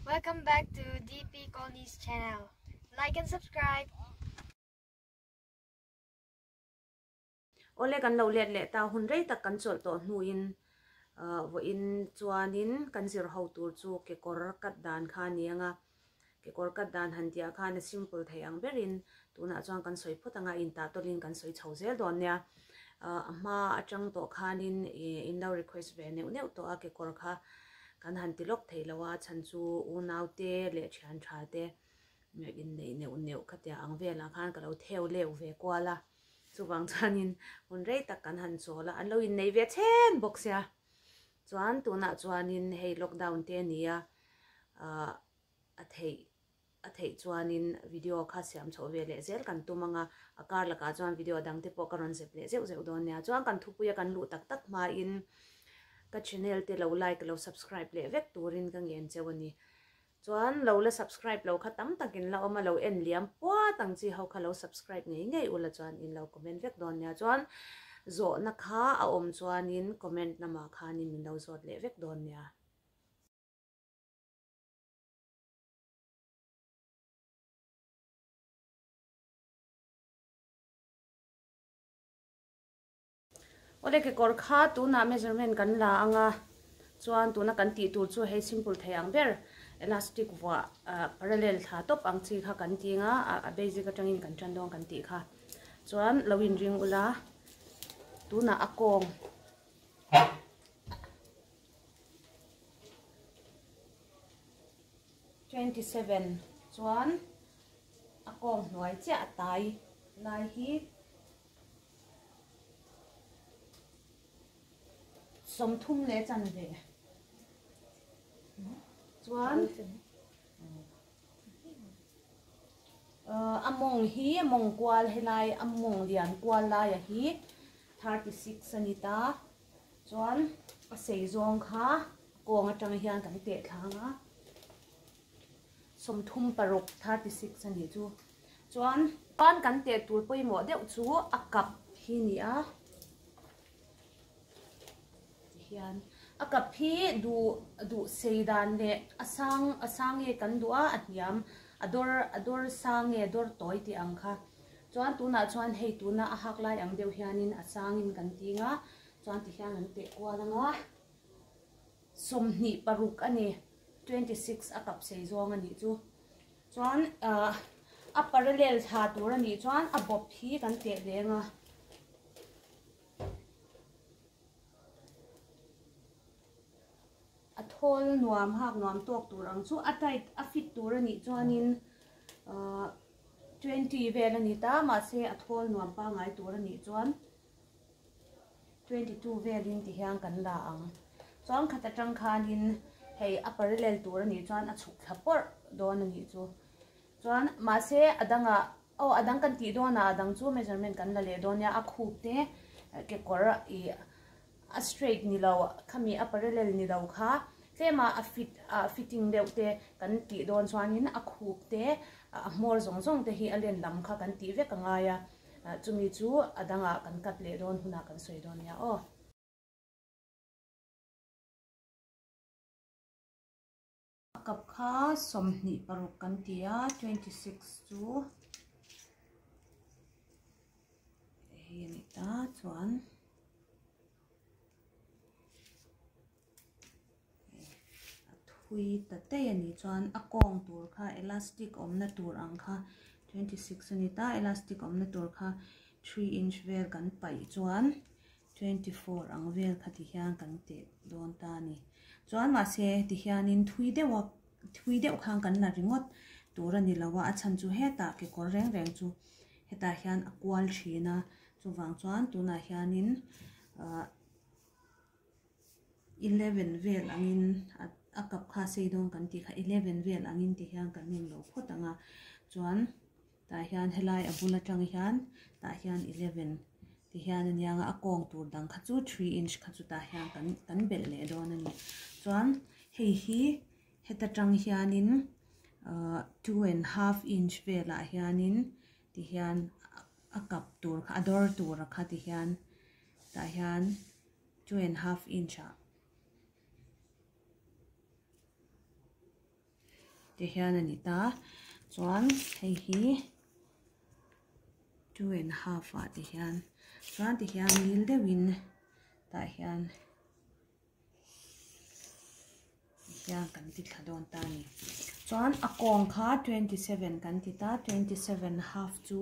Welcome back to DP Colony's channel. Like and subscribe. Ole kan lo let le ta hun rei tak kan chol to hnu in vo in chuan in kan zir ho tur chu ke kor kat dan kha ni anga Kekawr cut dan han tih ah khan a simple thei ang ber in tunah chuan kan sawi phawt ang a, in tah tawlh in kan sawi chho zel dawn nia. Ahh a hma atang tawh khan in in lo request ve neuh neuh tawh a kekawr kha kan han ti lawk thei lo a chhan chu unau te leh thian tha te in neih neuh neuh ka tia ang vel ah khan ka lo theu leu ve kual a chuvang chuan in hun rei tak kan han chawl a an lo in nei ve chhen bawk sia. Chuan tunah chuanin hei lockdown te nia ah a theih a theih chuanin video kha siam chho ve leh zel kan tum anga a kar lakah chuan video dang te pawh ka rawn zep leh zeuh zeuh dawn nia chuan kan thupuia kan luh tak tak hmain ka channel te lo like lo subscribe leh vek turin ka ngen cheu a ni Chuan lo la subscribe lo kha tam takin la awm a lo en liam puat ang chi ho kha lo subscribe ngei ngei ula chuan in lo comment vek dawn nia chuan zawhna kha a awm chuanin comment na mah khanin min lo zawt leh vek dawn nia. Awle kekawr kha tunah measurement kan la anga chuan tuna kan tih tur chu hei simple thei ang ber elastic vuah parallel thla tawp ang chi kha kan ti anga a basic atangin kan tan dawn kan tih kha chuan lo in ring ula tunah a kawng twenty seven chuan a kawng hnuai chiah a tai lai hi sawm thum leh chanve chuan a mawng hi a mawng kual helai a mawng lian kual laia hi thirty six a ni ta chuan a sei zawng kha kawng atanga hian kan tehthlang a. Sawmthum paruk, thirty six, a nih chu. Chuan. Chuan kan teh tur pawimawh deuh chu a kap hi a ni a. Tihian. A kap hi duh duh sei dan leh a sang a sang nge kan duh a, a hniam a dawr a dawr sang nge dawr tawi tih ang kha. Chuan tunah chuan hei tuna a hak lai ang deuh hianin a sangin kan ting a. Chuan tihian an teh kual ang a. Sawmhnih paruk a ni, twenty six a kap sei zawng a nih chu. Chuan a parallel thla tur a nih chuan a bawp hi kan teh leng a. A thawl nuam hak nuam tawk tur ang chu a tight a fit tur a nih chuanin twenty vel a ni ta, mahse a thawl nuam pangngai tur a nih chuan. Twenty two velin ti hian kan la ang. Chuan khat atang khanin hei a parallel tur a nih chuan a chhuk thla pawrh dawn a nih chu. Chuan mahse a danga aw a dang kan tih dawnah a dang chu measurement kan la leh dawn nia a khup te kekawr ih. A straight ni lo, khami a parallel ni lo kha tlema a fit a fitting deuh te kan tih dawn chuanin a khup te a hmawr zawng zawng te hi a len lam kha kan tih vek a ngai a, chumi chu a dangah kan cut leh dawn hunah kan sawi dawn nia aw. A kap kha sawmhnih paruk kan ti a, twenty six chu hei a ni ta chuan a thui ta daih a nih chuan a kawng tur kha elastic awmna tur ang kha twenty six a ni ta elastic awmna tur kha three inch vel kan paih chuan. twenty four ang vel kha ti hian kan teh dawn ta a ni. Chuan mahse ti hianin thui deuha thui deuh khan kan la ringawt tur a ni lo a, a chhan chu hetah kekawr reng reng chu hetah hian a kual thin a, chuvang chuan tunah hianin ah eleven vel angin a kap kha a sei dawn kan tih kha eleven vel angin ti hian kan ning lo phawt ang a, chuan. Tah hian helai a bul atang hian tah hian eleven tih hian a nia a kawng tur dang kha chu three inch kha chu tah hian kan kan belh leh dawn a ni chuan hei hi heta tang hianin ahh two and half inch velah hianin tih hian a kap tur kha a dawr tur kha tih hian tah hian two and half inch ah-- te hian a ni ta chuan hei hi two and half ah te hian chuan ti hian dil deuh in tah hian ti hian kan ti thla dawn ta a ni chuan a kawng kha twenty seven kan ti ta twenty seven half chu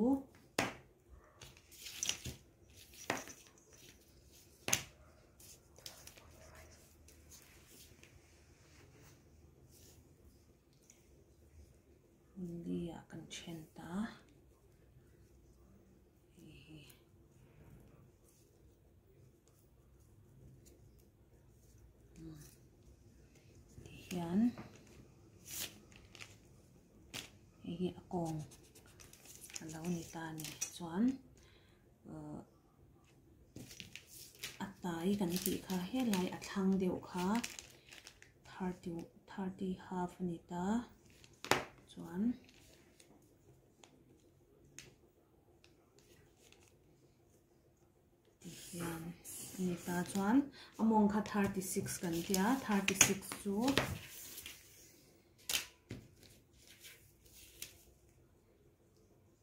Hunliah kan then ta a, hei hi umm ti hian hei hi a kawng a lo ni ta a nih chuan uhh. a tai kan tih kha helai a thlang deuh kha thirty thirty half a ni ta chuan tihian a ni ta chuan a mawng kha thirty six kan ti a thirty six chu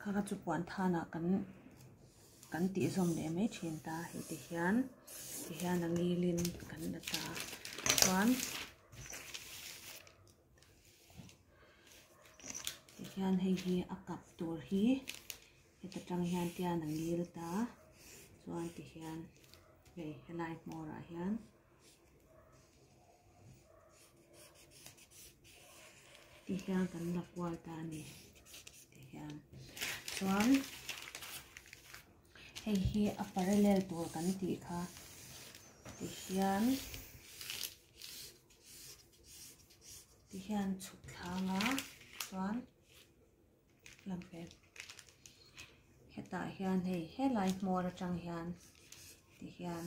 Kha chu puan than ah kan kan tih zawm leh mai thin ta hei ti hian ti hian a ngil in kan la ta chuan ti hian hei hi a kap tur hi heta tang hian tian a ngil ta chuan ti hian hei helai hmawr ah hian. Ti hian kan la kual ta a ni ti hian chuan hei hi a parallel tur kan tih kha ti hian ti hian chhuk thlang a chuan lam pek hetah hian hei helai hmawr atang hian ti hian.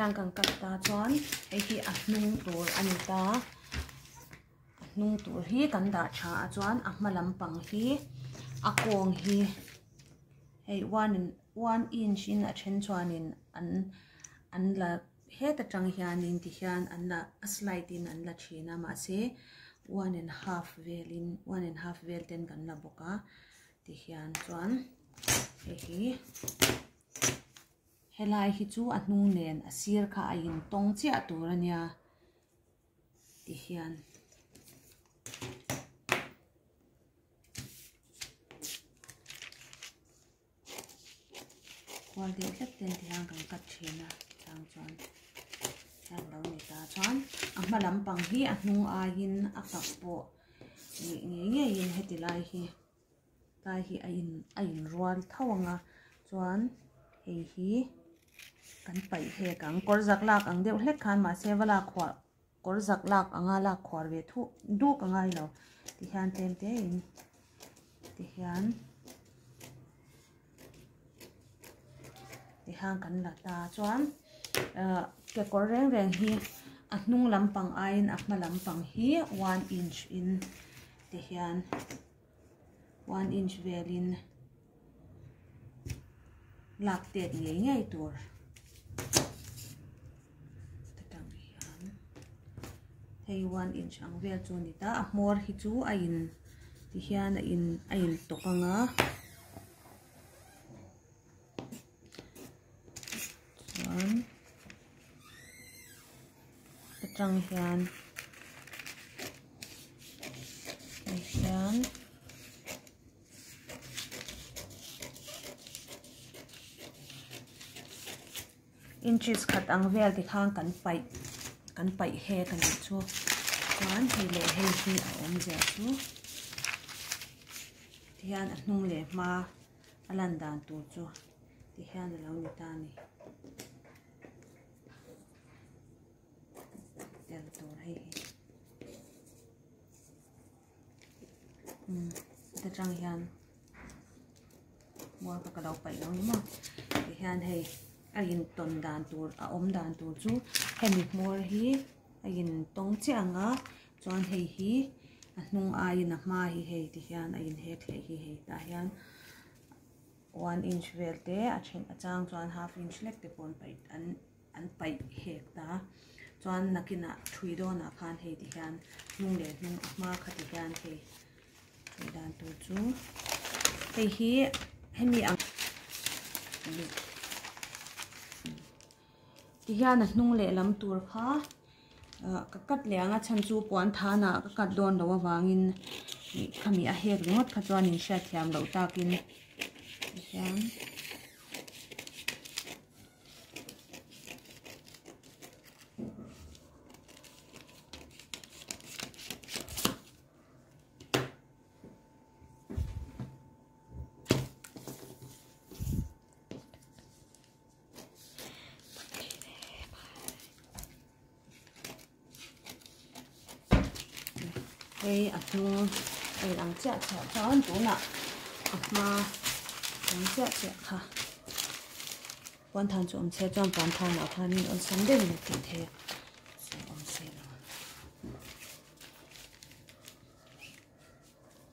Heng kan cut ta chuan hei hi a hnung tur a ni ta a hnung tur hi kan dah tha a chuan a hma lampang hi a kawng hi hei one in-- Huan in hrin a then chuanin an an la het atang hianin tihian an la a slide in an la thin a mahse one and half velin one and half vel ten kan la bawk a tihian chuan hei hi helai hi chu a hnung nen a sir kha a in tawng chiah tur a nia tihian khuar leh tlat te an ti hian kan cut thin a chang chuan hian lo ni ta chuan a hma lam pang hi a hnung aiin a kap pawh nih ngei ngei in heti lai hi tlai hi a in a in rual tho ang a chuan hei hi kan paih hek ang kawr zak lak ang deuh hlek khan mahse va lak huah-- kawr zak lak anga lak khuar ve thup dup a ngai lo ti hian tlem te in ti hian ti hian kan la ta chuan ah kekawr reng reng hi a hnung lampang aiin a hma lampang hi one inch in ti hian-- one inch velin lak tet ngei ngei tur hetang hian hei one inch ang vel chu a ni ta a hmawr hi chu a in ti hian a in a in tawk ang a. chuan atang hian hei hian inches khat ang vel te khang kan paih kan paih hek a nih chu chuan hei leh hei hi a awm zia chu tihian a hnung leh hma. A lan dan tur chu ti hian a lo ni ta a ni. Tel tur hei hi. Umm heta tang hian mual kha ka lo paih lo ni maw. Ti hian hei a in tawn dan tur a awm dan tur chu hemi hmawr hi a in tawng chiah ang a. Chuan hei hi a hnung aiin a hma hi hei ti hian a inhek hlei hi hei tah hian one inch vel te a then a chang chuan half inch lek te pawh an an paih hek ta a chuan nakinah thui dawnah khan hei ti hian hnung leh hnung a hma kha ti hian hei hei dan tur chu hei hi hemi ang ti hian a hnung leh lam tur kha. Ka cut leh anga chhan chu puan than ah ka cut dawn loh avangin khami a hek ringawt kha chuan in hriat thiam loh takin tihian hei a hnung a inang chiah chiah chuan tunah a hma awm chiah chiah kha puan than chu awm chhiat chuan puan than ah khan min awlsam deuh mai tih theih a awm si lo.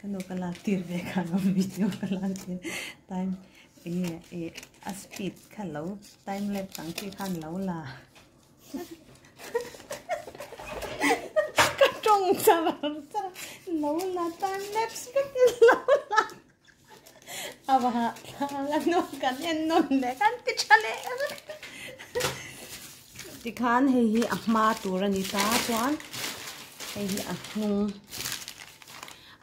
ka nu ka lak tir ve kha lo video ka lak tir time enge e a speed kha lo time lapse ang chi khan lo la ka tawng chara chara lo la time lapse ka ti lo la Avanga tlang a nawm kan en nawn leh kan ti tha leh ka ring a. Tikhan hei hi a hma tur a ni ta chuan hei hi a hnung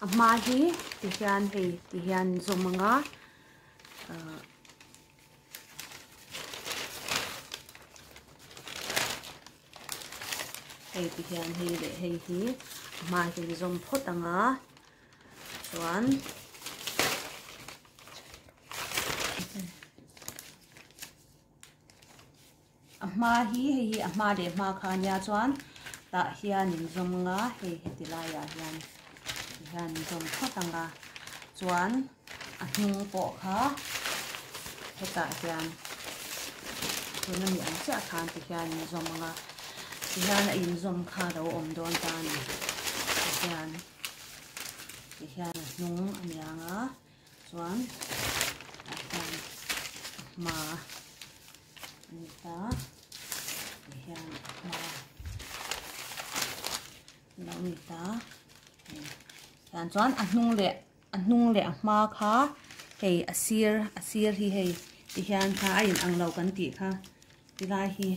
a hma hi ti hian hei ti hian in zawm ang a ah hei ti hian hei leh hei hi a hma hi zawm phawt ang a. chuan a hma hi hei hi a hma leh hma kha nia chuan tah hian in zawm nga hei heti laiah hian ti hian in zawm phawt ang a chuan a hnung pawh kha hetah hian tuna ni ang chiah khan ti hian in zawm ang a ti hian a in zawm kha lo awm dawn ta a ni ti hian. Tih hian a hnung a ni ang a, chuan tah hian a hma a ni ta, tih hian a hma a lo ni ta a, tih hian chuan a hnung leh a hnung leh a hma kha hei a sir a sir hi hei tih hian kha a inang lo kan tih kha ti lai hi.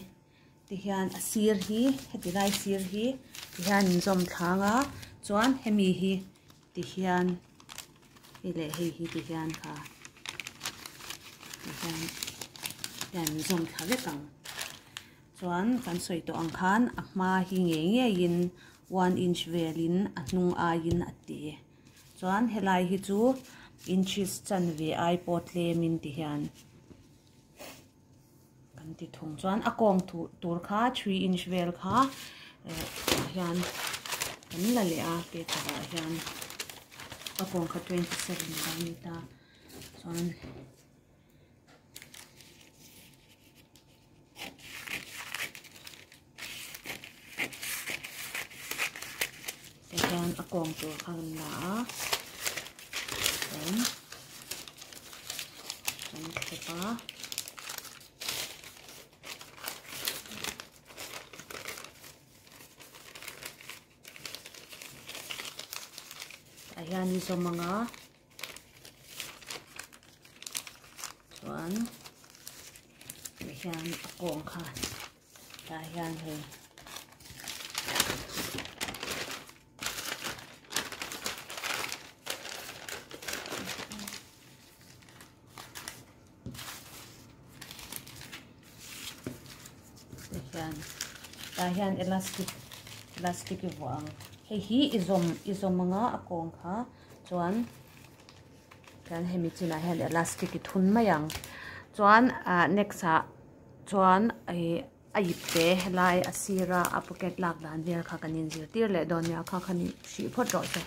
Tihian a sir hi, heti lai sir hi tihian in zawm thlang a, chuan hemi hi tihian hei leh hei hi tihian kha tihian hian in zawm thla vek ang. Chuan kan sawi tawh ang khan a hma hi ngei ngei in one inch vel in a hnung ai in a ti. Chuan helai hi chu inches chanve ai pawh tlem in tihian. kan ti thung chuan a kawng tu tur kha three inch vel kha eh tah hian kan la leh a paper ah hian a kawng kha twenty seven kan ni ta chuan Chuan a kawng tur kha kan la a, chuan kan khep a. Tah hian i zawm ang a, chuan tih hian a kawng kha. Tah hian hei hian tah hian elastic elastic i vuah ang hei hi i zawm i zawm anga a kawng kha chuan chuan hemi chinah hian elastic i thun mai ang chuan ah next ah chuan a ip te lai a sira a pocket lak dan vel kha kan inzir tir leh dawn nia kha khan hrih phawt rawh a chaw.